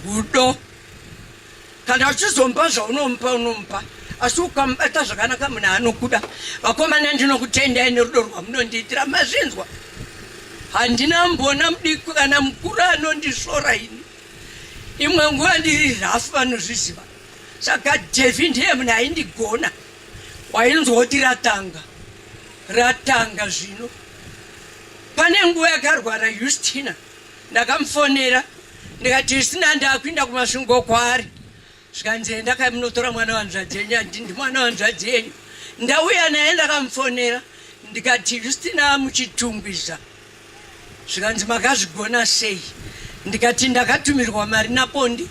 Rudo. Kana uchizompa zvaunomupa unomupa asi ukamubata zvakanaka munhu anokuda. Vakomana ndinokutendai nerudo rwamunondiitira mazvinzwa. Handina mbona mudiki kana mukuru anondisvora ini. Imwe nguva ndiri rhafu vanozviziva. Saka Devi ndiye munhu aindigona. Wainzwa kuti ratanga. Ratanga zvino. Pane nguva yakarwara Justina. ndakamufonera ndikati zvisina ndakuinda kumasvingo kwaari zvikanzi enda kai munotora mwana wanzvadzi yenyu andi ndi mwana wanzvadzi yenyu ndauya naye ndakamufonera ndikati justina muchitungwiza zvikanzi makazvigona sei ndikati ndakatumirwa mari napondi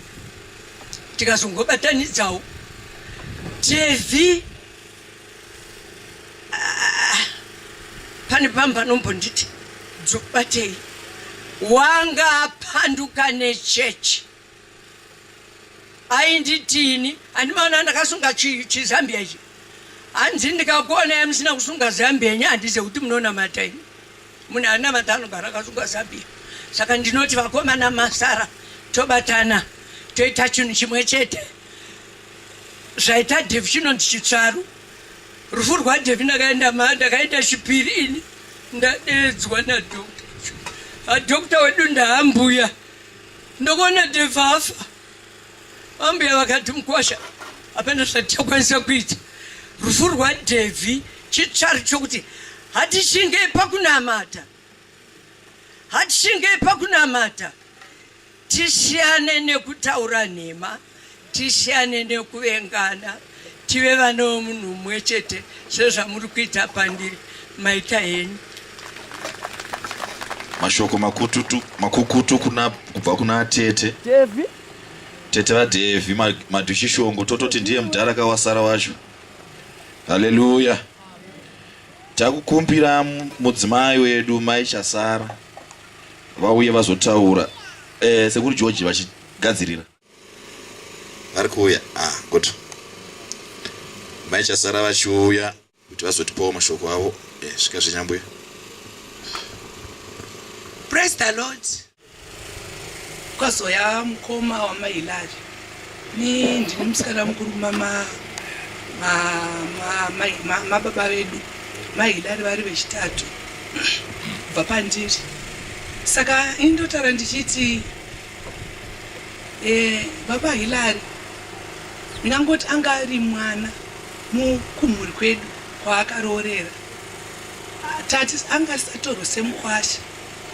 tikazongobatanidzawo tv Ah, pane pamwe panombonditi dzokubatei wanga apanduka nechechi ainditini andimaona ndakasunga chizambia ichi hanzi ndikakuona yamusina kusunga zambia yenyu handize kuti munonamata ini munhu anamata anogara akasunga zambia saka ndinoti vakomana masara tobatana toita chinhu chimwe chete zvaita devi chinonzi chitsvaru rufu rwadevi ndakaenda maa ndakaenda chipiri ini ndadeedzwa nadokta adokta wedu ndaambuya ndokuona devi afa ambuya vakati mukwasha hapana zvatakwanisa kuita rufu rwadevi chitsvaru chokuti hatichinge pakunamata hatichinge pakunamata Tisiyane nekutaura nhema, tisiyane nekuvengana, tive vana vemunhu mumwe chete sezvamuri kuita pandiri. Maita henyu. Mashoko makututu, makukutu kuna, kubva kuna tete Devi. Tete vaDevi Madhushishongo, tototi ndiye mudhara kawasara wacho. Haleluya. Takukumbira mudzimai wedu Mai Chasara vauye vazotaura eh, sekuri george vachigadzirira vari kuuya ah, good maichasara vachiuya kuti vazotipawo mashoko avo eh, svika zvinyambuya praise the lord kwazoya mukoma wamailari Ni ndine musikana mukuru kumama mababa vedu mahilari vari vechitatu kubva pandiri saka indotara ndichiti eh, baba hilari ndingangoti anga ari mwana mukumhuri kwedu kwaakaroorera tati anga asisatorwe semukwasha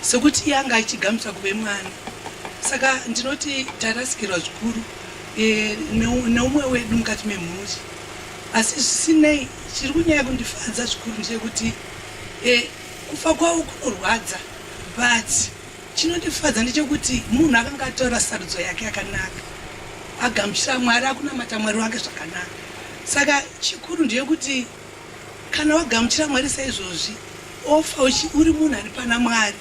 Sekuti iye anga achigamuchira kuve mwana. Saka ndinoti tarasikirwa zvikuru e, neumwe wedu mukati memhuri. Asi zvisinei, chiri kunyaya kundifadza zvikuru ndechekuti e, kufa kwavo kunorwadza but chinondifadza ndechekuti munhu akanga ataura sarudzo yake yakanaka agamuchira mwari akunamata mwari wake zvakanaka saka chikuru ndeyekuti Kana wagamuchira Mwari saizvozvi, ofa uchi uri munhu ari pana Mwari.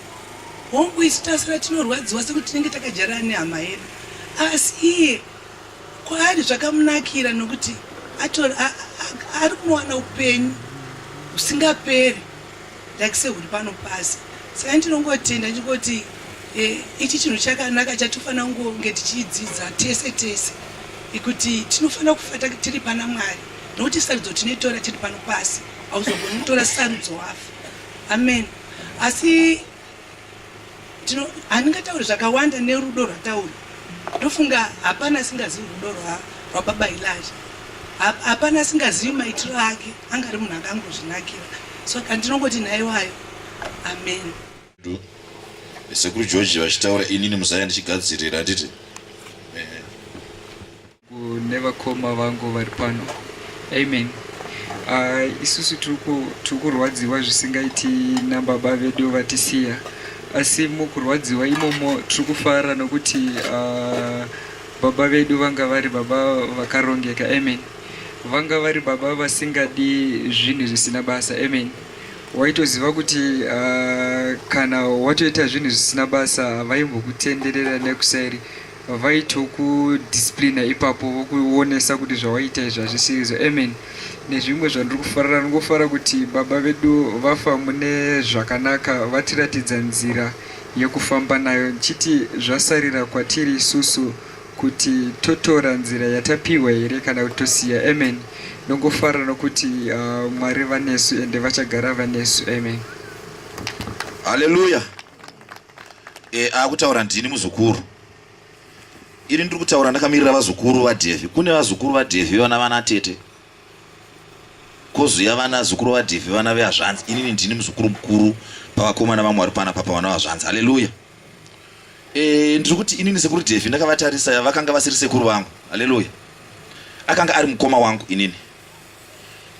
Hongu, isu tasara tinorwadziwa sekuti tinenge takajarana nehama yedu, asi iye kwaari zvakamunakira nokuti ari kunowana upenyu husingaperi. like sehuri pano pasi saka ndinongotenda ndichingoti eh, ichi chinhu chakanaka chatofanira kunge tichidzidza tese tese ikuti tinofanira kufata tiri pana mwari nokuti sarudzo tinoitora tiri pano pasi hauzogoni kutora sarudzo wafa amen asi tino handingatauri zvakawanda nerudo rwatauri ndofunga hapana asingazivi rudo rwababa ilaja hapana asingazivi maitiro ake anga ari munhu akangozvinakira so kandinongoti nhaiwayo amen sekuru george vachitaura inini muzaya ndichigadzirira handiti nevakoma vangu vari pano amen uh, isusu tiri kurwadziwa zvisingaiti nababa vedu vatisiya asi mukurwadziwa imomo tiri kufara nokuti uh, baba vedu vanga vari baba vakarongeka amen vanga vari baba vasingadi zvinhu zvisina basa amen waitoziva kuti uh, kana watoita zvinhu zvisina basa havaimbokutenderera nekuseri vaitokudisciplina ipapo vokuonesa kuti zvawaita izvi hazvisirizo amen nezvimwe zvandiri kufarira ndingofara kuti baba vedu vafa mune zvakanaka vatiratidza nzira yekufamba nayo ndichiti zvasarira kwatiri isusu kuti totora nzira yatapiwa here kana kuti tosiya amen ndongofara nokuti uh, mwari vanesu ende vachagara vanesu amen haleluya E, akutaura ndini muzukuru ini ndiri kutaura ndakamirira vazukuru vadhevhi kune vazukuru vadhevhi vana vana tete kozuya vana zukuru vadhevhi vana vehazvanzi inini ndini muzukuru mukuru pavakomana vamwe vari pana papa vana vazvanzi haleluya e, ndiri kuti inini sekuru dhevhi ndakavatarisa vakanga vasiri sekuru vangu haleluya akanga ari mukoma wangu inini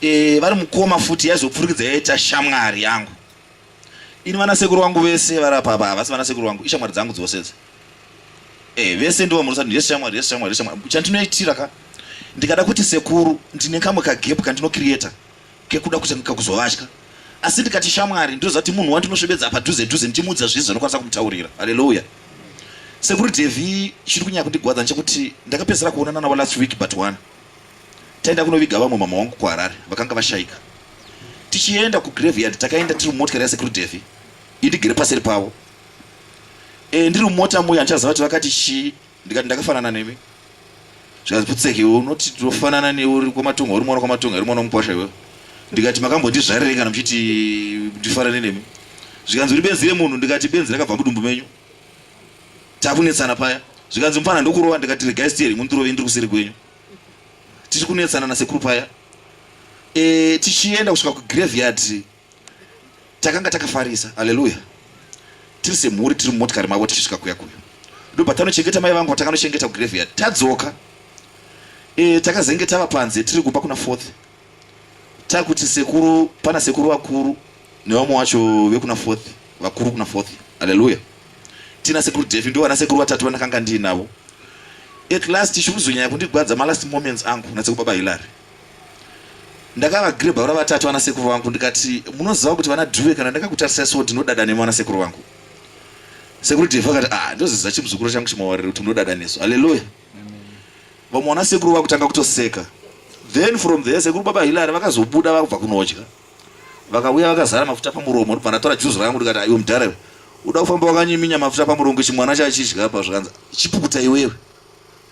e, vari mukoma futi yaizopfurikidza yaita shamwari yangu Ini vana sekuru wangu vese vari apa apa havasi vana sekuru wangu ishamwari dzangu dzose idzi. Eh vese ndivo murisa yes shamwari yes shamwari yes shamwari chandinoitira ka ndikada kuti sekuru ndine kamwe ka gap kandino creator kekuda kutanga kuzovatya asi ndikati shamwari ndozati munhu wandinosvebedza padhuze dhuze ndichimuudza zvese zvanokwanisa kumutaurira haleluya sekuru devi chiri kunyanya kundigwadza nechekuti ndakapedzisira kuonana navo last week but one Taenda kunoviga vamwe mama wangu kuHarare vakanga vashaika. Tichienda kugraveyard takaenda tiri mumotikari yasekuru Davy indigere paseri pavo. E, ndiri mumota muya ndichaziva kuti vakati chii ndikati ndakafanana nemi. Zvikanzi putseki unoti tinofanana newe uri kwamatunga uri mwana kwamatunga uri mwana mukwasha iwewe. Ndikati makambondizvarirei kana muchiti ndifanane nemi. Zvikanzi uri benzi remunhu ndikati benzi rakabva mudumbu menyu. takunetsana paya zvikanzi mupfana ndokurova ndikati regai steri mundirove ndiri kuseri kwenyu tiri kunetsana nasekuru paya e, tichienda kusvika kugraveyard takanga takafarisa aleluya tiri semhuri tiri mumotikari mavo tichisvika kuya kuya ndobva tanochengeta mai vangu vatakanochengeta kugraveyard tadzoka e, takazenge tava panze tiri kumba kuna fourth takuti sekuru pana sekuru vakuru nevamwe wacho vekuna fourth vakuru kuna fourth haleluya tina sekuru defi ndo vana sekuru vatatu vandakanga ndiinavo at last chikuzonyanya kundigwadza malast moments angu nasekuru baba hilary ndakavagrebha vana vatatu vana sekuru vangu ndikati munoziva kuti vana dhuve kana ndakakutarisai so ndinodada nemi vana sekuru vangu sekuru defi vakati ah ndoziza chimuzukuru changu chimawariro kuti munodada nesu haleluya vamwe wana sekuru vakutanga kutoseka then from there sekuru baba hilary vakazobuda vakubva kunodya vakauya vakazara mafuta pamuromo ndibva ndatora juzi rangu ndikati aiwe mudhara iwe uda kufamba wakanyiminya mafuta pamuromo ichi mwana chachidya pa zvikanzi chipukuta iwewe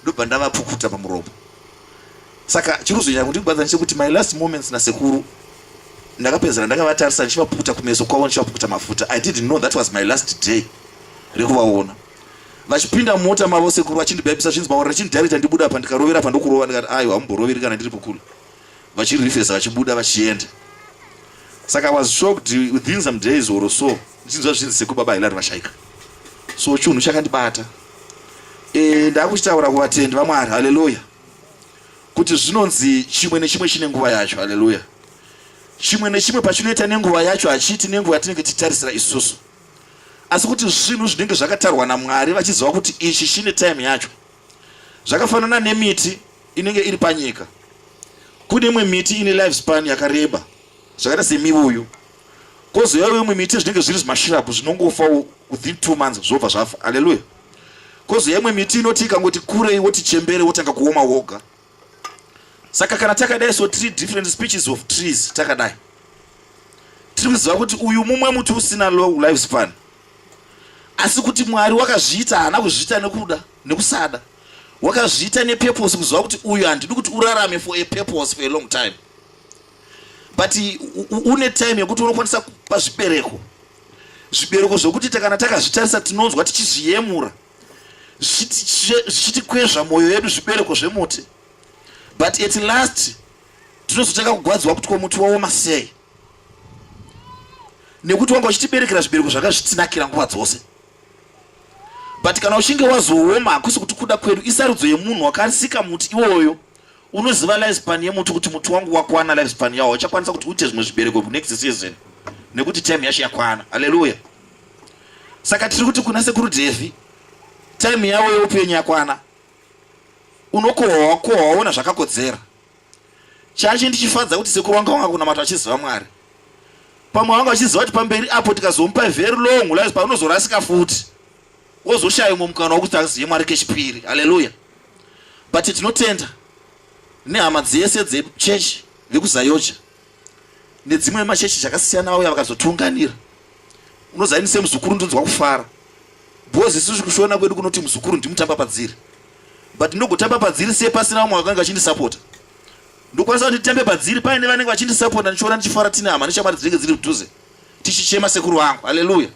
ndobva ndavapukuta pamuromo saka chiri kuzonyanya kundikubadza ndechekuti my last moments nasekuru ndakapedzera ndakavatarisa ndichivapukuta kumeso kwavo ndichivapukuta mafuta i didn't know that was my last day rekuvaona vachipinda mumota mavo sekuru vachindibhabisa zvinzi maora richindidarita ndibuda apa ndikarovera apa ndokurova ndikati aiwa hamumboroveri kana ndiripo kule vachirifesa vachibuda vachienda saka was shocked within some days or so ndichinzwa zvinzi sekuru baba hilari vashaika so chunhu chakandibata e, ndakuchitaura kuvatendi vamwari haleluya kuti zvinonzi chimwe nechimwe chine nguva yacho haleluya chimwe nechimwe pachinoita nenguva yacho hachiiti nenguva yatinenge tichitarisira isusu asi kuti zvinhu zvinenge zvakatarwa namwari vachiziva kuti ichi chine time yacho zvakafanana nemiti inenge iri panyika kune imwe miti ine life span yakareba zvakaita semivuyu kozoyawo imwe miti zvinenge zviri zvimashirapu zvinongofa within two months zvobva zvafa aleluya kozoya imwe miti inoti ikangoti kurei woti chembere wotanga kuoma woga saka kana takadai so three different speeches of trees takadai tiri kuziva kuti uyu mumwe muti usina long life span asi kuti mwari wakazviita haana kuzviita nekuda nekusada wakazviita nepurpose kuziva kuti uyu handidi kuti urarame for a purpose for a long time but une time yekuti unokwanisa kupa zvibereko zvibereko zvokuti takana takazvitarisa tinonzwa tichizviyemura zvichitikwezva mwoyo yedu zvibereko zvemuti but at last tinozotanga kugwadziwa kuti komuti waoma sei nekuti wanga uchitiberekera zvibereko zvanga zvitinakira nguva dzose but kana uchinge wazooma hakusi kuti kuda kwedu isarudzo yemunhu wakarisika muti iwoyo unoziva lifespan yemuti kuti muti wangu wakwana lifespan yawo uchakwanisa kuti uite zvimwe zvibereko next season nekuti time yacho yakwana haleluya saka tiri kuti kuna sekuru devi time yavo yeupenyu yakwana unokohwa kohwa waona zvakakodzera chachi ndichifadza kuti sekuru wanga wanga kunamata vachiziva mwari pamwe wanga vachiziva kuti pamberi apo tikazomupa very long lives paunozorasika futi wozoshaya umwe mukana wokuti azive mwari kechipiri haleluya but tinotenda nehama dzese dzechechi vekuzayocha nedzimwe machechi zvakasiyana vauya vakazotiunganira unoziva ini semuzukuru ndinonzwa kufara bhozi isusu kushona kwedu kunoti muzukuru ndimutamba padziri but ndogotamba padziri se pasina vamwe vakange vachindisapota ndokwanisa kuti nditambe padziri paine vanenge vachindisapota ndichiona ndichifara tine hama neshamwari dzinenge dziri mudhuze tichichema sekuru vangu aleluya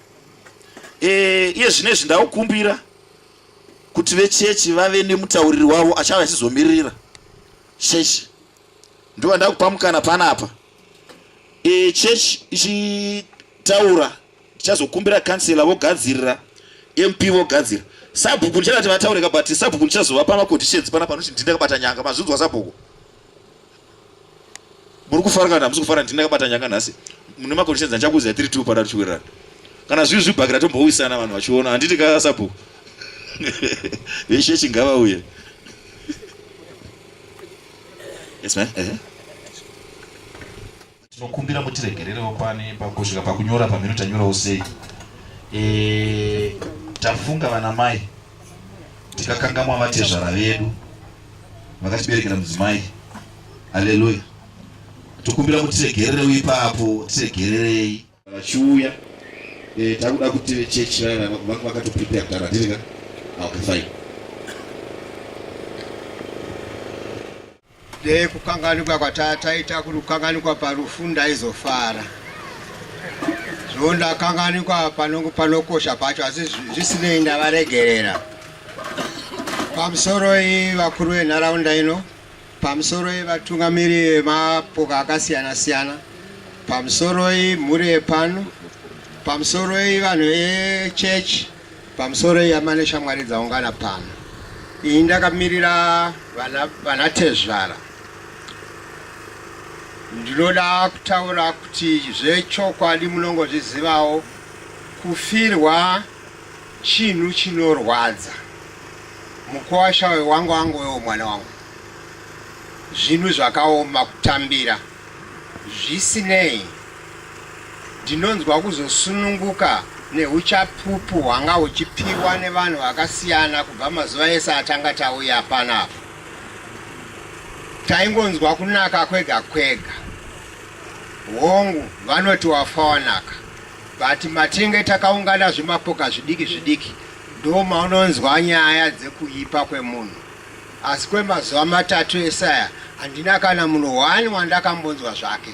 e, iye zvine izvi ndakukumbira kuti vechechi vave nemutauriri wavo achava achizomiririra chechi ndiwa ndakupa mukana panapa e, church ichitaura tichazokumbira kansela vogadzirira mp vogadzira sabhuku ndichadati vataureka but sabhuku ndichazova pamaconditions pana panoti ndini ndakabata nyanga mazvinzwa sabhuku muri kufara kana hamusi kufara ndini ndakabata nyanga nhasi mune maconditions andichakuziva tiri two pana tichiwirirana kana zvivi zvibhakira tombouisana vanhu vachiona handiti kaa sabhuku veshe chingava uye Yes, ma'am. Uh -huh. Tinokumbira mutiregererewo pane pakusvika pakunyora pamhino tanyorawo sei. Eh, tafunga vana mai tikakangamwa vatezvara vedu vakatiberekera mudzimai. Haleluya. Tokumbira mutiregererewo ipapo, tiregererei. vachiuya eh, takuda kuti vechechi vaya vanga vakatoprepare kudhara hatiri ka ah, okay fine dei kukanganikwa kwatataita kuri kukanganikwa parufu ndaizofara zvo ndakanganikwa panokosha pacho asi zvisinei ndavaregerera pamusoro iyi vakuru venharaunda ino Pamusoro yevatungamiri vemapoka akasiyana siyana, pamusoro yemhuri yepano, pamusoro yevanhu echechi, pamusoro yama neshamwari dzaungana pano. Iyi ndakamirira vana, vana tezvara. Ndinoda kutaura kuti zvechokwadi munongozvizivawo kufirwa Chinhu chinorwadza mukuwasha uyo wangu wangu wewo mwana wangu zvinhu zvakaoma kutambira zvisinei ndinonzwa kuzosununguka neuchapupu hwanga huchipiwa nevanhu vakasiyana kubva mazuva ese atanga tauya panapa taingonzwa kunaka kwega kwega hongu vanoti wafa wanaka but matinge takaungana zvimapoka zvidiki zvidiki ndo maunonzwa nyaya dzekuipa kwemunhu asi kwemazuva matatu esaya handina kana munhu one wandakambonzwa zvake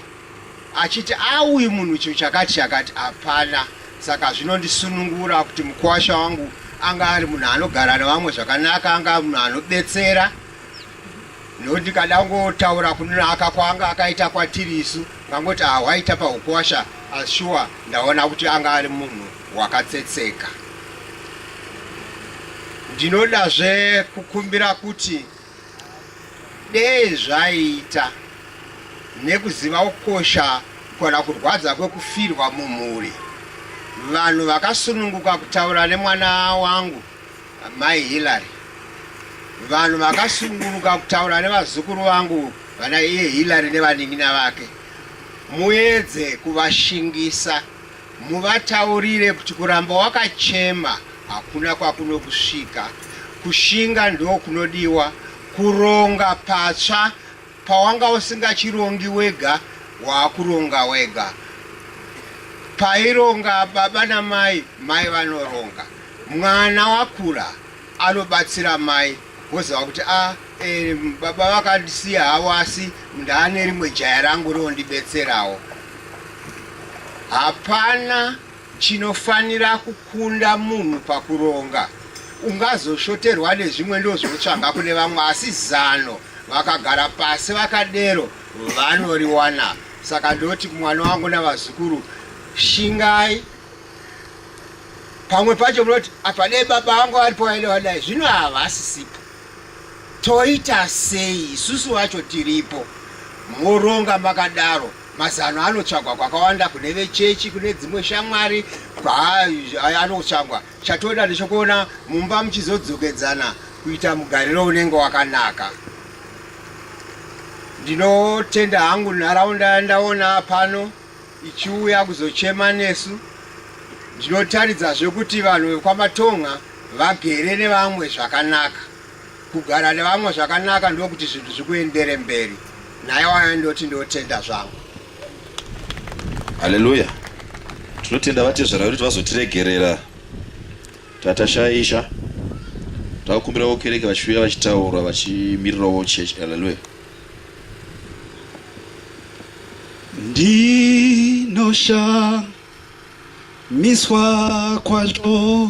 achiti auyi munhu chinhu chakati chakati hapana saka zvinondisunungura kuti mukwasha wangu anga ari munhu anogara nevamwe zvakanaka anga munhu anobetsera nekuti kadangotaura kunaka kwaanga akaita kwatiri isu ngangoti ahwaita ah, pahukwasha ashuwa ah, ndaona kuti anga ari munhu wakatsetseka ndinodazve kukumbira kuti dei zvaiita nekuziva kukosha kana kurwadza kwekufirwa mumhuri vanhu vakasununguka kutaura nemwana wangu Amai Hillary, vanhu vakasunguruka kutaura nevazukuru vangu vana iye Hillary nevanin'ina vake. Muedze kuvashingisa, muvataurire kuti kuramba wakachema hakuna kwakunokusvika. Kushinga ndokunodiwa, kuronga patsva Pawanga usingachirongi wega waakuronga wega. Paironga baba namai, mai vanoronga. Mwana wakura anobatsira mai woziva kuti a ah, e, eh, baba vakandisiya havo asi ndaane rimwe jaya rangu rinondibetserawo. Hapana Chinofanira kukunda munhu pakuronga. Ungazoshoterwa nezvimwe ndozvotsvaga kune vamwe asi zano vakagara pasi vakadero vanoriwana. Saka ndoti mwana wangu navazukuru shingai pamwe pacho munoti apa dai baba vangu varipo vaida vadai zvino havasisipo toita sei isusu vacho tiripo moronga makadaro Mazano anotsvagwa kwakawanda kune vechechi, kune dzimwe shamwari anotsvagwa. Chatoda ndechokuona mumba muchizodzokedzana kuita mugariro unenge wakanaka. Ndinotenda hangu nharaunda yandaona pano ichiuya kuzochema nesu. Ndinotaridzazve kuti vanhu vekwamatonga vagere nevamwe zvakanaka. Kugara nevamwe zvakanaka ndokuti zvinhu zvikuendere mberi. Naye waya ndoti ndotenda zvangu. Haleluya. Tinotenda vatezvara vedu vazotiregerera. Tatashaisha. Takumbirawo kereke vachiuya vachitaura vachimirirawo church. Haleluya. Ndinosha miswa kwazvo.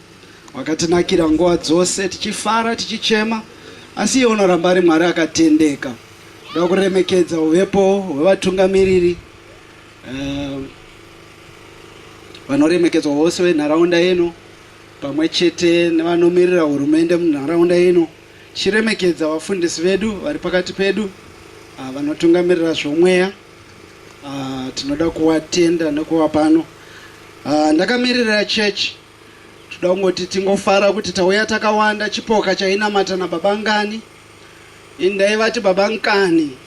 Wakatinakira nguva dzose tichifara tichichema asi iye unoramba ari Mwari akatendeka. Ndoda kuremekedza uvepo hwevatungamiriri eh, vanoremekedzwa vose venharaunda yeno pamwe chete nevanomirira hurumende munharaunda ino chiremekedza vafundisi vedu vari pakati pedu ah, vanotungamirira zvomweya ah, tinoda kuvatenda nekuva pano ah, ndakamirira chechi Toda kungoti tingofara kuti tauya takawanda chipoka chainamata nababa ngani. Ini ndaivati baba nkani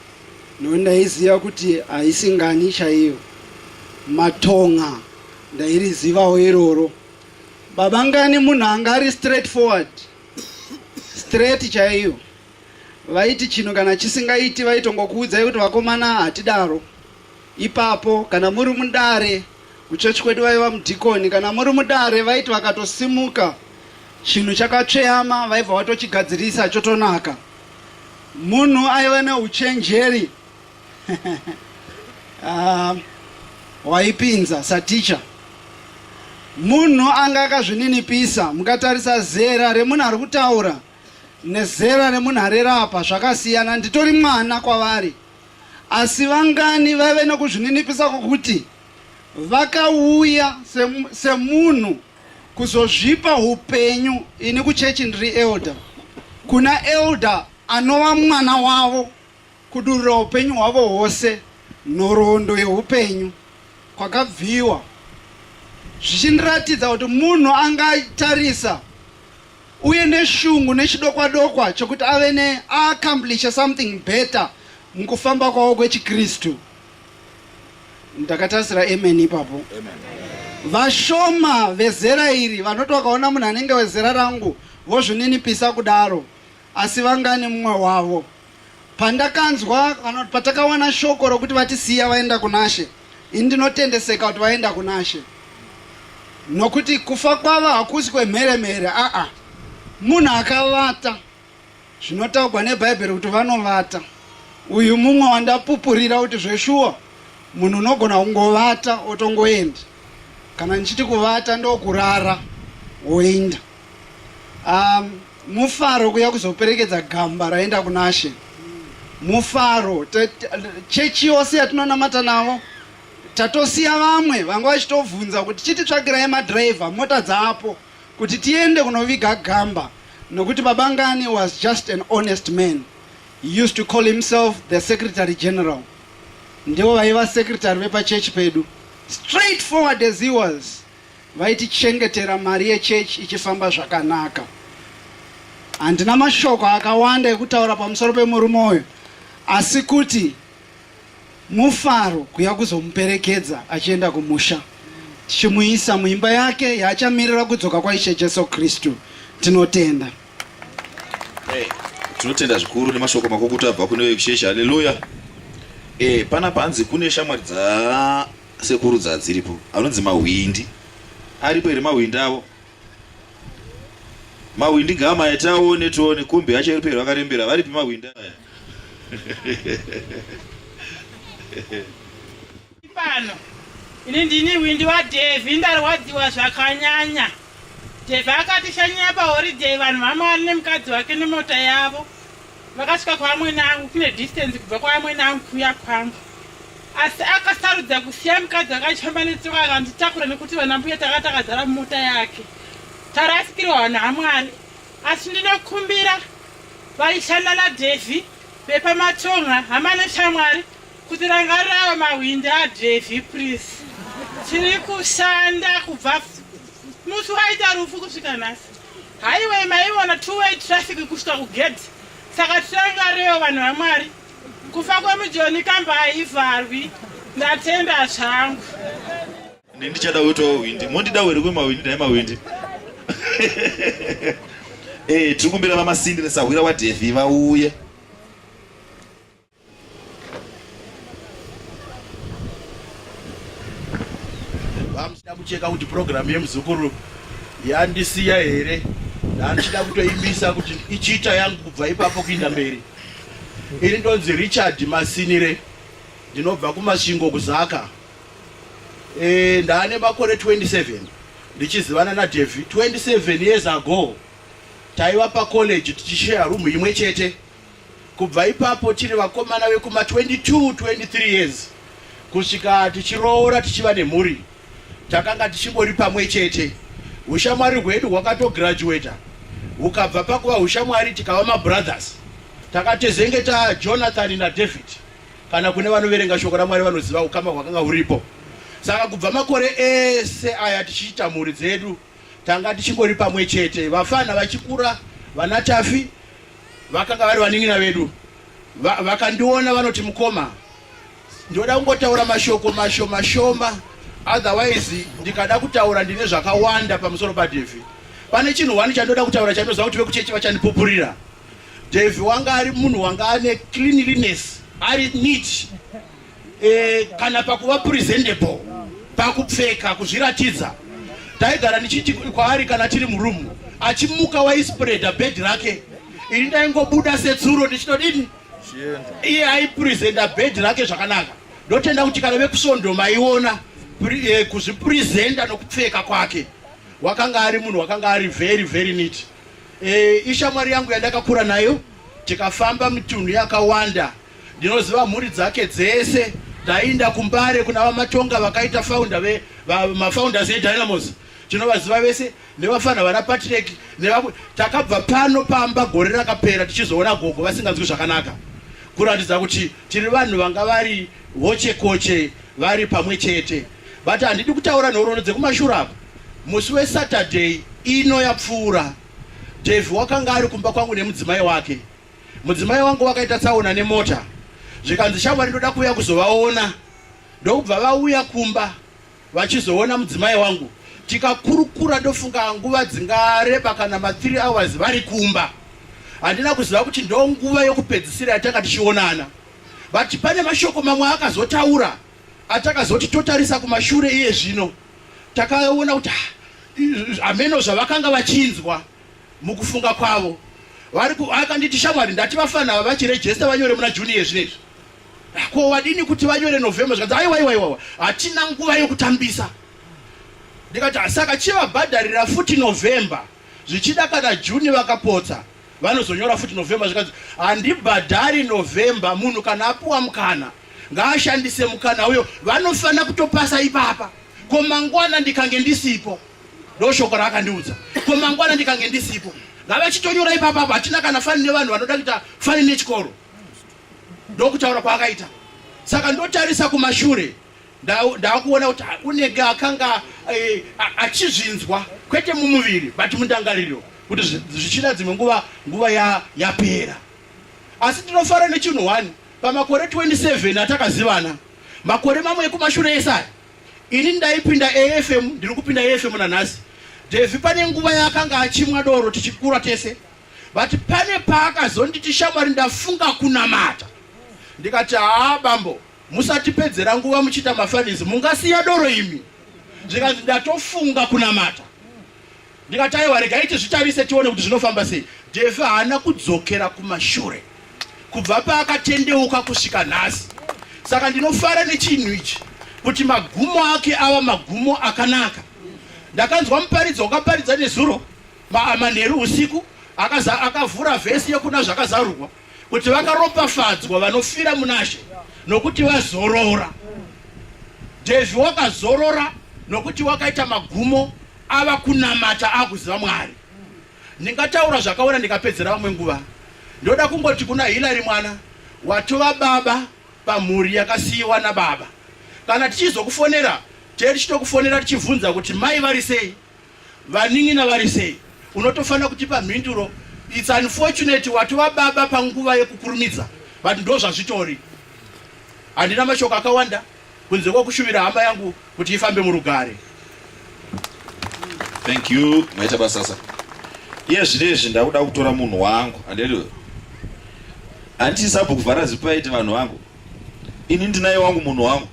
no ndaiziva kuti haisi ngani chaiyo. Matonga ndairizivawo iroro. Baba ngani munhu anga ari straight forward. Straight chaiyo. Vaiti chinhu kana chisingaiti vaitongokuudzai kuti vakomana hatidaro. Ipapo kana muri mudare kuchechi kwedu vaiva mudhikoni, kana muri mudare vaiti vakatosimuka chinhu chakatsveyama vaibva vatochigadzirisa chotonaka. Munhu aiva neuchenjeri ah, waipinza saticha munhu anga akazvininipisa mukatarisa zera remunhu ari kutaura nezera remunhu arerapa zvakasiyana nditori mwana kwavari Asi vangani vaive nokuzvininipisa kwokuti vakauya semunhu kuzozvipa upenyu, ini kuchechi ndiri elder, kuna elder anova mwana wavo, kudurura upenyu hwavo hwose, nhoroondo yeupenyu kwakabviwa zvichindiratidza kuti munhu angatarisa uye neshungu nechidokwa dokwa chokuti ave ne accomplish something better mukufamba kwavo kwechiKristu. Ndakatarisira amen ipapo. Vashoma vezera iri vanoti vakaona munhu anenge wezera rangu vozvininipisa kudaro, asi vangani mumwe wavo? Pandakanzwa kana patakawana shoko rokuti vatisiya vaenda kunashe, ini ndinotendeseka kuti vaenda kunashe, nokuti kufa kwavo hakusi kwemhere mhere. Aa, munhu akavata zvinotaugwa nebhaibheri kuti vanovata. Uyu mumwe wandapupurira kuti zveshuwa munhu unogona kungovata otongoenda. Kana ndichiti kuvata ndokurara woenda. Um, Mufaro kuya kuzoperekedza gamba raenda kunashe. Mufaro chechi yose yatinonamata navo tatosiya vamwe vanga vachitovhunza kuti chititsvakirai madriver mota dzaapo kuti tiende kunoviga gamba nokuti babangani was just an honest man He used to call himself the secretary general ndivo vaiva secretary vepachechi pedu straight forward as he was Vaitichengetera mari yechechi ichifamba zvakanaka. Handina mashoko akawanda ekutaura pamusoro pemurume uyu asi kuti mufaro kuya kuzomuperekedza achienda kumusha tichimuisa muimba yake yaachamirira kudzoka kwaishe Jesu Kristu. Tinotenda. Hey, tinotenda zvikuru nemashoko makukutu abva kune vekuchechi. Haleluya. Eh, pana panzi kune shamwari dza Sekuru dzadziripo anonzi mahwindi aripo here mahwindi avo mahwindi gama yataone tione kumbe yacho iri pera vakarembera varipi mahwindi aya pano ini ndini hwindi wadhevhi ndarwadziwa zvakanyanya dhevhi akatishanyira pahoriday vanhu vamwari nemukadzi wake nemota yavo vakasvika kwaamwene angu kune distance kubva kwaamwene angu kuuya kwangu asi akasarudza kusiya mukadzi akachamba netsoka akanditakura nekuti vana mbuya tanga takazara mumota yake tarasikirwa vanhu hamwari asi ndinokumbira vaishanda nadhevhi vepamatonga hama neshamwari kuti rangarirawo mahwindi adhevhi please tiri kushanda kubva musi waita rufu kusvika nhasi Highway maiona two way traffic kusvika kugate saka tirangarewo vanhu vamwari kufa kwemujoni kamba haivharwi ndatenda zvangu ini ndichada kuitawo hwindi mondida were kwemahwindi naye mahwindi e eh, tiri kumbira vamasindi nesahwira wadhefi vauye vamuchida kucheka kuti purogiramu yemuzukuru yandisiya here ndandichida kutoimbisa kuti ichiita yangu kubva ipapo kuinda mberi ini ndonzi richard masinire ndinobva kumasvingo kuzaka e, ndaane makore 27 ndichizivana nadevhi 27 years ago taiva pacollege tichishaya room imwe chete Kubva ipapo tiri vakomana vekuma 22 23 years kusvika tichiroora tichiva nemhuri takanga tichingori pamwe chete. Ushamwari hwedu hwakatograduata hukabva pakuva ushamwari tikava mabrothers. Takatezenge ta Jonathan naDavid, kana kune vanoverenga shoko raMwari vanoziva ukama hwakanga huripo. Saka kubva makore ese aya tichiita mhuri dzedu Tanga tichingori pamwe chete vafana vachikura vana Tafi vakanga vari vanin'ina vedu vakandiona vanoti mukoma ndoda kungotaura mashoko mashoma shoma otherwise ndikada kutaura ndine zvakawanda pamusoro paDevi pane chinhu wani chandoda kutaura chanoziva kuti vekuchechi vachandipupurira Devi wanga ari munhu wanga ane cleanliness ari neat e, kana pakuva presentable pakupfeka kuzviratidza taigara ndichiti kwaari kana tiri murumu achimuka waispreada bed rake ini ndaingobuda setsuro ndichinodini iye aipresenta bed rake zvakanaka ndotenda kuti kana vekusvondo maiona eh, kuzvipresenta nokupfeka kwake wakanga ari munhu wakanga ari very very neat e, ishamwari yangu yandakakura nayo tikafamba mitunhu yakawanda Ndinoziva mhuri dzake dzese. Tainda kuMbare kuna VaMatonga vakaita founder ve mafounders eDynamos. Tinovaziva vese nevafana vana Patrick nevamwe. Takabva pano pamba gore rakapera tichizoona gogo vasinganzwi zvakanaka. Kuratidza kuti tiri vanhu vanga vari hoche koche vari pamwe chete. But handidi kutaura nhoroondo dzekumashura apa. Musi weSaturday ino yapfuura Devi wakanga ari kumba kwangu nemudzimai wake. Mudzimai wangu wakaita tsaona nemota zvikanzi shamwari ndoda kuuya kuzovaona ndokubva vauya kumba vachizoona mudzimai wangu tikakurukura ndofunga nguva dzingareba kana ma 3 hours vari kumba handina kuziva kuti ndo nguva yokupedzisira yatanga tichionana but pane mashoko mamwe akazotaura atakazoti totarisa kumashure iye zvino takaona kuti hameno zvavakanga vachinzwa mukufunga kwavo vari akanditi shamwari ndati vafana ava vachirejesta vanyore muna juni yezvinezvi ah, ko wadini kuti vanyore november zvikanzi aiwaiwaiwawa hatina nguva yekutambisa ndikati ah, saka chivabhadharira futi november zvichida kana juni vakapotsa vanozonyora futi november zvikanzi handibhadhari november munhu kana apuwa mukana ngaashandise mukana uyo vanofanira kutopasa ipapa ko mangwana ndikange ndisipo ndoshoko raakandiudza ko mangwana ndikange ndisipo ngavachitonyora ipapa apo hatina kana fani nevanhu vanoda kuita fani nechikoro ndokutaura kwaakaita saka ndotarisa kumashure ndakuona kuti unenge akanga eh, achizvinzwa kwete mumuviri but mundangariro kuti zvichida dzimwe nguva nguva yapera asi tinofara nechinhu one pamakore 27 atakazivana makore mamwe ekumashure esaya Ini ndaipinda AFM ndiri kupinda AFM nanhasi. Devi pane nguva yaakanga achimwa doro tichikura tese. But pane paakazonditi shamwari ndafunga kunamata. Ndikati haa bambo musatipedzera nguva muchiita mafanizi mungasiya doro imi. Zvikanzi ndatofunga kunamata. Ndikati aiwa regai tizvitarise tione kuti zvinofamba sei. Defi haana kudzokera kumashure kubva paakatendeuka kusvika nhasi. Saka ndinofara nechinhu ichi kuti magumo ake ava magumo akanaka. Ndakanzwa muparidzo wakaparidza nezuro manheru usiku akaza akavhura vhesi yekuna zvakazarurwa kuti vakaropafadzwa vanofira munashe nokuti vazorora. Devi wakazorora nokuti wakaita magumo ava kunamata akuziva mwari ndingataura zvakaona ndikapedzera vamwe nguva ndoda kungoti kuna hilary mwana watova baba pamhuri yakasiyiwa nababa kana tichizokufonera tee tichitokufonera tichibvunza kuti mai vari sei vanin'ina vari sei unotofanira kutipa mhinduro its unfortunate watova baba panguva yekukurumidza but ndo zvazvitori handina mashoko akawanda kunze kwekushuvira hama yangu kuti ifambe murugare thank you maita basasa iye zvinezvi ndakuda kutora munhu wangu andiriwe handiti sabhuku varazipaiti vanhu vangu ini ndinaye wangu munhu wangu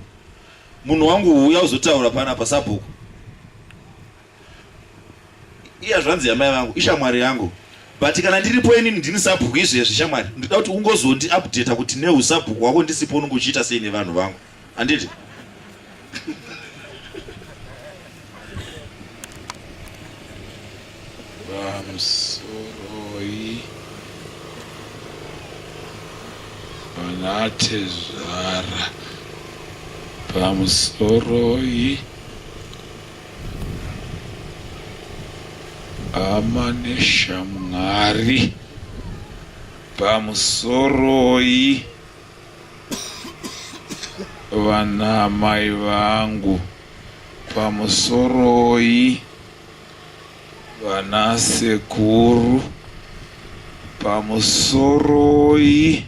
munhu wangu uya uzotaura pana pasabhuku iya zvanzi yamai vangu ishamwari yangu but kana ndiripo inini ndini sabhuku izvezvi shamwari ndida kuti ungozondi updata kuti neusabhuku wako ndisipo unenge uchiita sei nevanhu vangu handiti vamusoroi vanatezvara pamusoroi Hama neshamwari pamusoroi vana mai vangu pamusoroi vana sekuru pamusoroi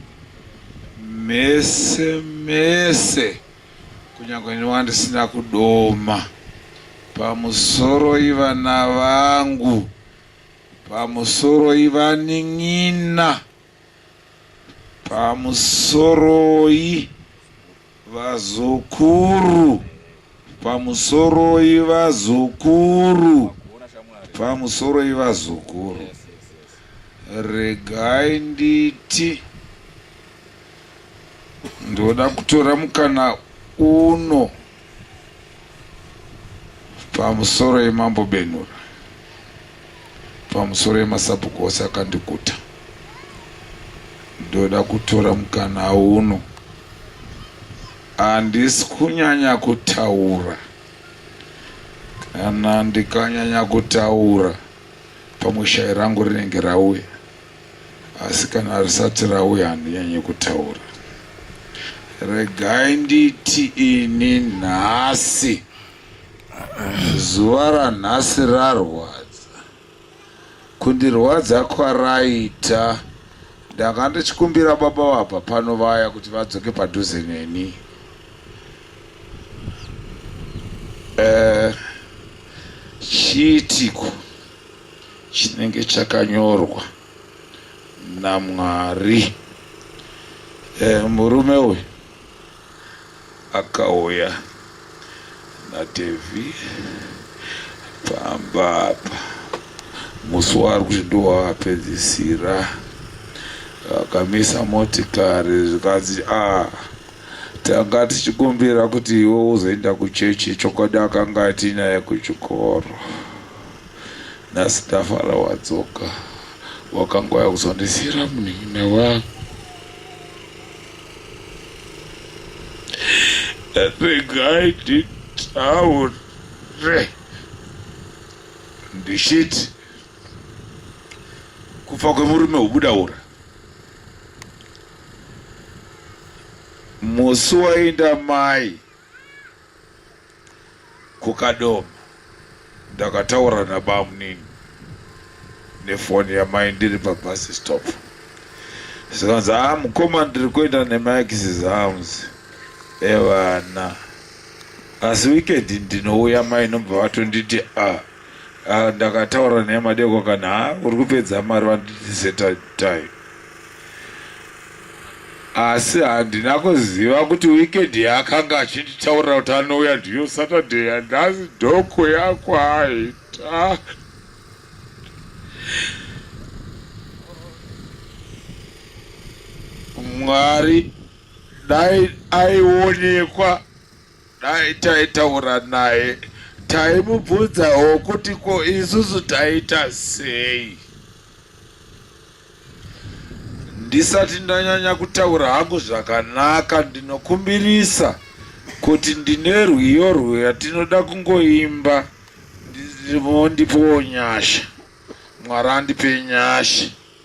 mese mese Kunyangwe ini wandisina kudoma pamusoroi vana vangu pamusoroi vanin'ina pamusoroi vazukuru pamusoroi vazukuru pamusoroi vazukuru regai nditi Ndoda kutora mukana uno pamusoro yemambo Benhura, pamusoro yemasabhuku ose akandiguta. Ndoda kutora mukana uno, handisi kunyanya kutaura kana ndikanyanya kutaura pamwe shayi rangu rinenge rauya. asi kana risati rauya handinyanyi kutaura regai nditi ini nhasi zuva ranhasi rarwadza kundirwadza kwaraita ndanga ndichikumbira baba vabva pano vaya kuti vadzoke padhuze neni eh, chiitiko uh, chinenge chakanyorwa namwari e, murume uyu akauya nadevi pamba apa musi waari kuti ndowavapedzisira vakamisa motikari zvikanzi a ah, Tanga tichikumbira kuti iwe uzoenda kuchechi chokwadi akanga atinaye kuchikoro. Nhasi ndafara wadzoka. Wakanga waya kuzondisiira munin'ina wangu. Regai nditaure. Ndichiti kufa kwemurume hubuda ura. musi wainda mai kukadoma ndakataura nabamunini nefoni yamai ndiri pabus stop zvikanzi a ah, mukoma ndiri kuenda nemaexes arms evana asi weekend ndinouya mai nobva vatonditi a ah, Ah, ndakataura naye madeko kana ha uri kupedza mari vanditise time asi handina kuziva kuti weekend yaakanga achinditaurira kuti anouya ndiyo saturday yandazi doko yako aita mwari dai aionekwa Dai taitaura naye taimubvunzawo kuti ko isusu taita sei. Ndisati ndanyanya kutaura hangu zvakanaka ndinokumbirisa kuti ndine rwiyo rwuya tinoda kungoimba ndipowo nyasha mwari andipe nyasha.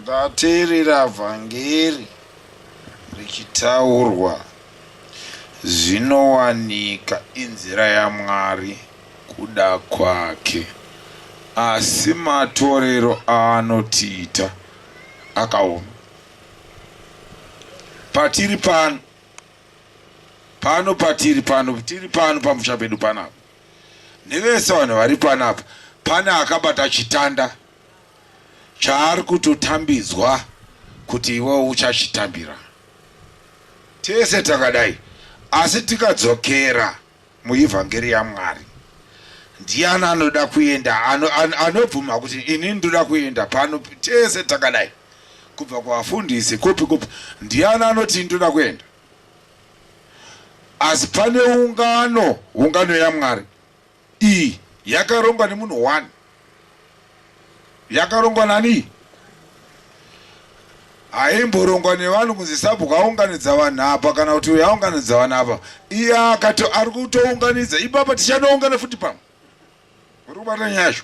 Ndateerera vhangeri richitaurwa zvinowanika inzira yaMwari kuda kwake asi matorero aanotiita akaoma. Patiri pano pano patiri pano tiri pano pamusha pedu panapa nevese vanhu vari panapa pane akabata chitanda chaari kutotambidzwa kuti iwewo uchachitambira tese takadai asi tikadzokera muivhangeri yamwari ndiani anoda kuenda anobvuma ano kuti ini ndoda kuenda pano tese takadai kubva kuvafundisi kupi kupi ndiani anoti ndoda kuenda asi pane ungano ungano yamwari Iyi yakarongwa nemunhu one. Yakarongwa nani? Haimborongwa nevanhu kunzi sabhuku aunganidza vanhu apa kana kuti uyo aunganidza vanhu apa. Iye akato ari kutounganidza ipapa tichanoungana futi pamwe. Uri kubata nyasho.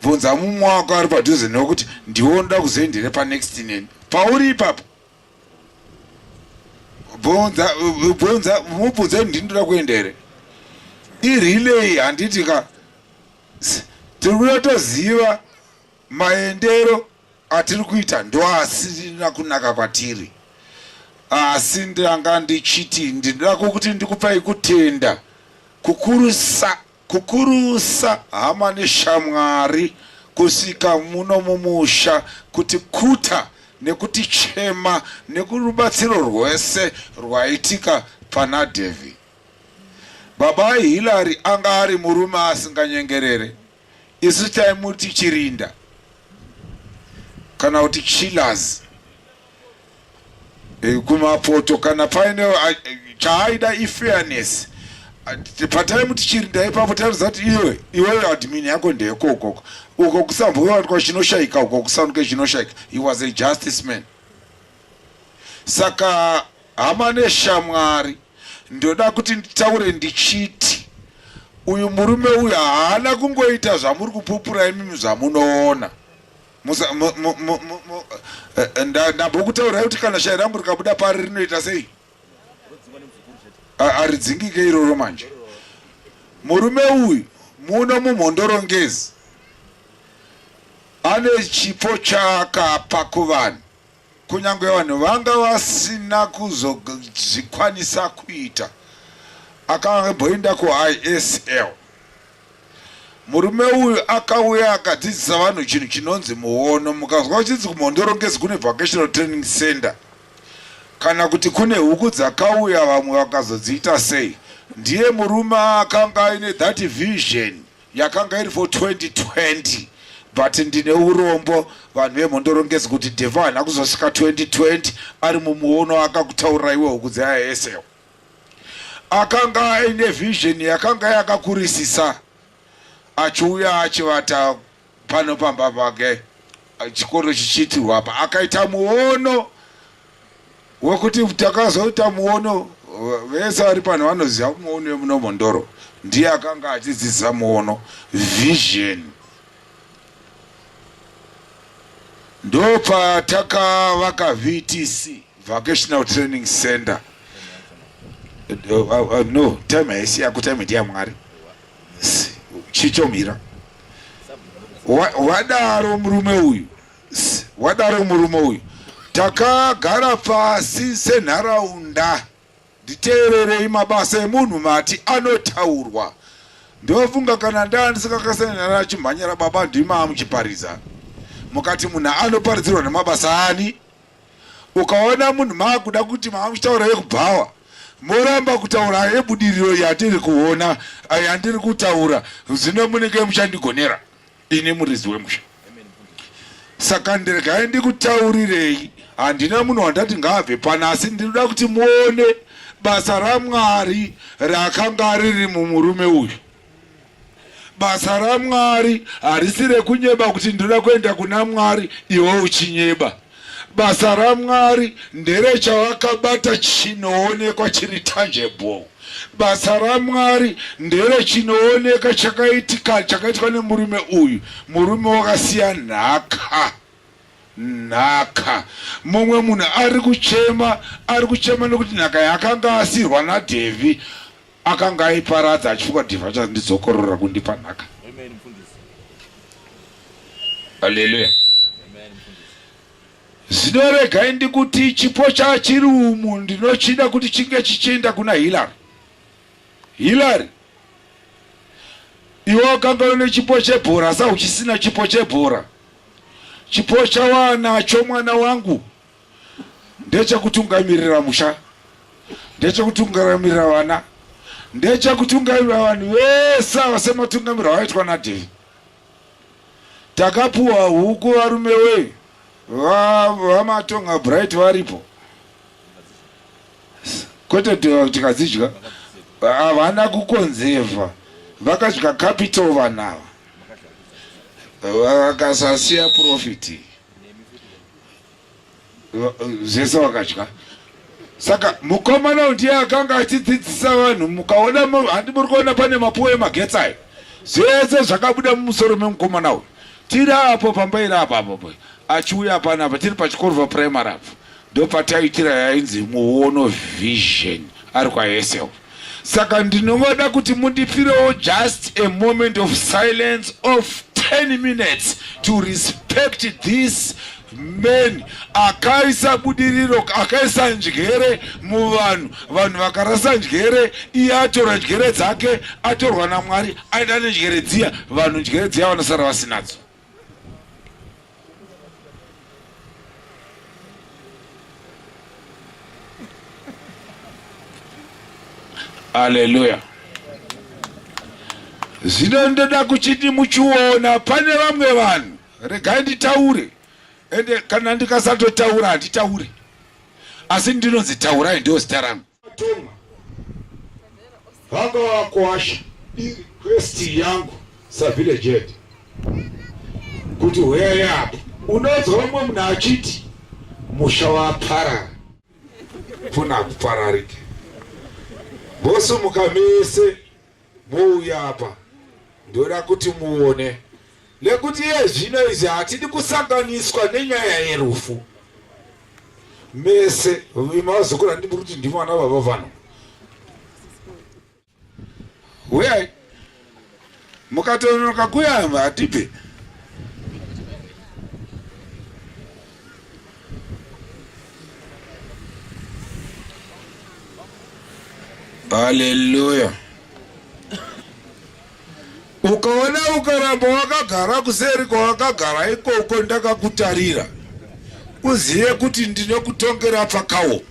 Bvunza mumwe wako ari padhuze newe kuti ndiwo ndoda kuzoenderepa next neni. Pauri ipapa. bvunza bvunza mubvunze ndini ndoda kuenda here irelay handiti ka tiri kuda toziva maendero atiri kuita ndoasina kunaka kwatiri asi ndanga ndichiti ndinoda kukuti ndikupai kutenda kukurusa Kukurusa hama neshamwari kusvika muno mumusha kutikuta nekutichema nekurubatsiro rwese rwaitika pana Davy. Baba Hillary anga ari murume asinganyengerere, isu taimuti chirinda kana kuti chillers. eh, kumapoto kana paine ah, chaaida ifairness ah, pataimu tichiri ndaipapo tairudza kuti iwe iweyo admin yako ndeyeko ukoko uko kusambovatwa chinoshaika uko kusanuke chinoshaika he was a justice man saka hama neshamwari ndoda kuti nditaure ndichiti uyu murume uyu haana kungoita zvamuri kupupura imimi zvamunoona ndambokutaurirai kuti kana shai rangu rikabuda pari rinoita sei aridzingike iroro manje murume uyu muno mumhondorongezi ane chipo chaakapa kuvanhu Kunyange vanhu vanga vasina kuzozvikwanisa kuita. Akamboenda kuISL. Murume uyu akauya akadzidzisa vanhu chinhu chinonzi muono. Mukazwa uchinzi kuMhondoro ngezi kune vocational training center kana kuti kune huku dzakauya vamwe vakazodziita sei. Ndiye murume akanga aine that vision. yakanga iri for 2020 but ndine urombo vanhu vemhondorongezi kuti devo haana kuzosvika 2020 ari mumuono akakutaurira iwe huku dzeaesewo akanga aine vision yakanga yakakurisisa achiuya achivata pano pamba pake chikoro chichiitirwa apa akaita muono wekuti takazoita muono vese vari pano vanoziva muono wemuno mondoro ndiye akanga achidzidzisa muono vision ndopatakavaka vtc vocational training center uh, uh, uh, no time haisi yako time ndiyamwari chichomira wadaro murume uyu wadaro murume uyu takagara pasi senharaunda nditeererei mabasa emunhu mati anotaurwa ndofunga kana ndaa ndisingakasanana chimhanyara baba ndimaa muchiparidza mukati munhu anoparidzirwa nemabasa ani ukaona munhu maakuda kuti maa muchitaura yekubhawa moramba kutaura yebudiriro yatiri kuona yandiri kutaura zvino munenge muchandigonera ini muridzi wemusha saka ndiregai ndikutaurirei handina munhu wandati ngaabve pana asi ndinoda kuti muone basa ramwari rakanga riri mumurume uyu basa ramwari harisi rekunyeba kuti ndinoda kuenda kuna mwari iwe uchinyeba Basa raMwari ndere chawakabata chinoonekwa chiri tangible. Basa raMwari ndere chinooneka chakaitika chakaitwa nemurume uyu. Murume wakasiya nhaka nhaka. Mumwe munhu ari kuchema, ari kuchema nekuti nhaka yaakanga asirwa naDevi akanga aiparadza achifunga kuti vachazondidzokorora kundipa nhaka haleluya zino regai ndikuti chipo chachiri umu ndinochida kuti chinge chichienda kuna hilary hilary iwe wakanga une chipo chebhora sa uchisina chipo chebhora chipo chawanacho mwana wangu ndechekutungamirira musha ndechekutungamirira vana ndechekutungamirira vanhu vese ava sematungamiriro avaitwa nadhei takapuwa huku varume wei vamatonga bright varipo kwete tikadzidya havana kukonzeva vakadya capital vanhu ava vakasasiya profiti zvese wakadya saka mukomana uyu ndiye akanga achidzidzisa vanhu mukaona handi muri kuona pane mapuwe emagetsi ayo zvese zvakabuda mumusoro memukomana uyu tiri apo pamba iri apa apo achiuya apana apa tiri pachikorova primary apo ndopataitira yainzi muono vision ari kwaesel Saka ndinovoda kuti mundipirewo just a moment of silence of 10 minutes to respect this man akaisa budiriro akaisa njere muvanhu vanhu vakarasa njere iye atora njere dzake atorwa namwari aenda nenjere dziya vanhu njere dziya vanosara vasinadzo Haleluya. Zvino ndoda kuchiti muchiona pane vamwe vanhu, regai nditaure, ende kana ndikasatotaura handitaure, asi ndinonzi taurai, ndio zita rangu. Toma vanga vakuwasha request yangu savillage head kuti huyai apo unonzwa vamwe munhu achiti musha waparara funa kupararike bosumuka mese Mouya apa ndoda kuti muone nekuti iye zvino izvi hatidi kusanganiswa nenyaya yerufu mese vazukuru handidi kuti ndi mwana baba vanhu huyai mukatononoka kuya hatipe haleluya ukaona ukaramba wakagara kuseri kwawakagara ikoko ndakakutarira uzive kuti ndinokutongera pakawo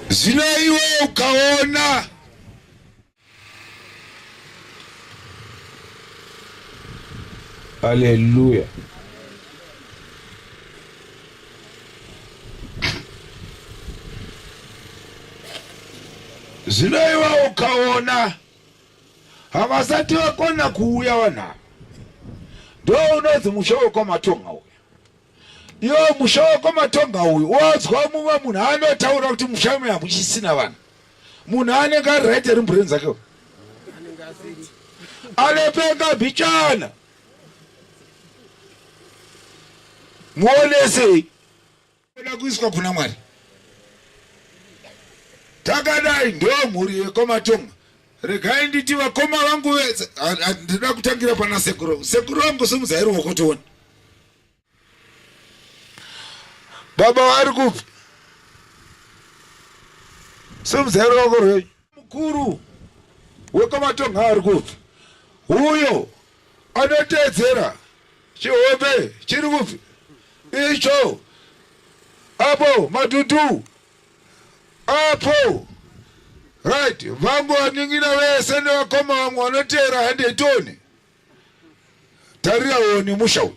zvino iwe ukaona Hallelujah. zvino iwe ukaona havasati vakona kuuya vanhu ava ndo unonzi musha wekwa matonga uya Yo musha wako matonga uyu wadzwa mumwe munhu anotaura kuti musha me hamuchisina vanhu munhu anenge ari right eri mbureni dzake anopenga bhichana muonesei oda kuiswa kuna mwari takadai ndo mhuri yekomatonga regai nditi vakoma vangu vese ndida kutangira pana sekuru sekuru vangu simudzai ruoko tione baba vari kupi simudzai ruoko rwenyu mukuru wekwamatonga ari kupi uyo anoteedzera chihombe chiri kupi icho apo madudu apo right vangu vaningina vese nevakoma vamwe vanoteera handetoni tarira woni musha uyu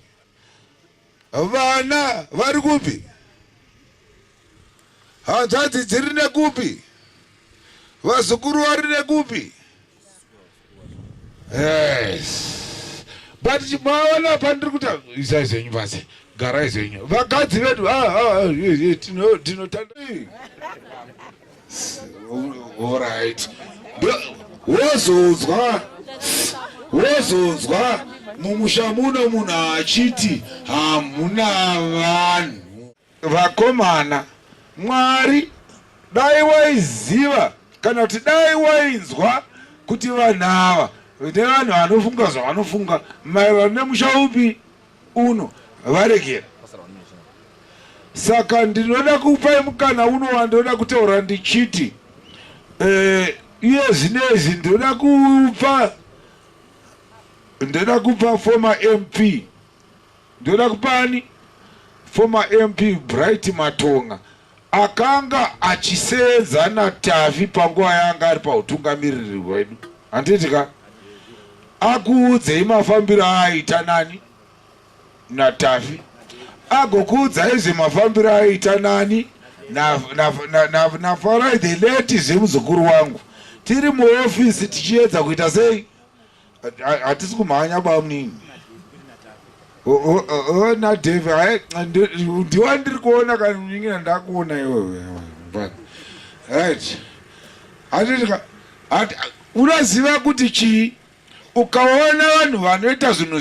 vana vari kupi hanzvadzi dziri nekupi vazukuru vari nekupi yes but maona pandiri kuti izai zvenyu pasi garai zvenyu vakadzi vedu ah, ah, ah, tinotanda Alright. Wozonzwa wozonzwa mumusha muno munhu achiti hamuna vanhu. Vakomana, Mwari dai waiziva kana kuti dai wainzwa kuti vanhu ava nevanhu vanofunga zvavanofunga maererano nemusha upi uno varegera saka ndinoda kupai mukana uno wandoda kutaura ndichiti eh, iye uh, zvinezvi ndoda kupa ndoda kupa former mp ndoda kupani former mp bright matonga Akanga achiseenza naTavi panguva yaanga ari pautungamiriri hwedu. Handiti ka? Akuudzei mafambiro aaita nani? NaTavi. Agokuudzai zvemafambiro aaita nani? NaFarai the late zvemuzukuru wangu. Tiri muofisi tichiedza kuita sei? Hatisi kumhanya bamunini. Ona Dave, ndiwa ndiri kuona kana kunyingira ndakuona iwewe. Right. Hatitika unoziva kuti chii ukaona vanhu vanoita zvinhu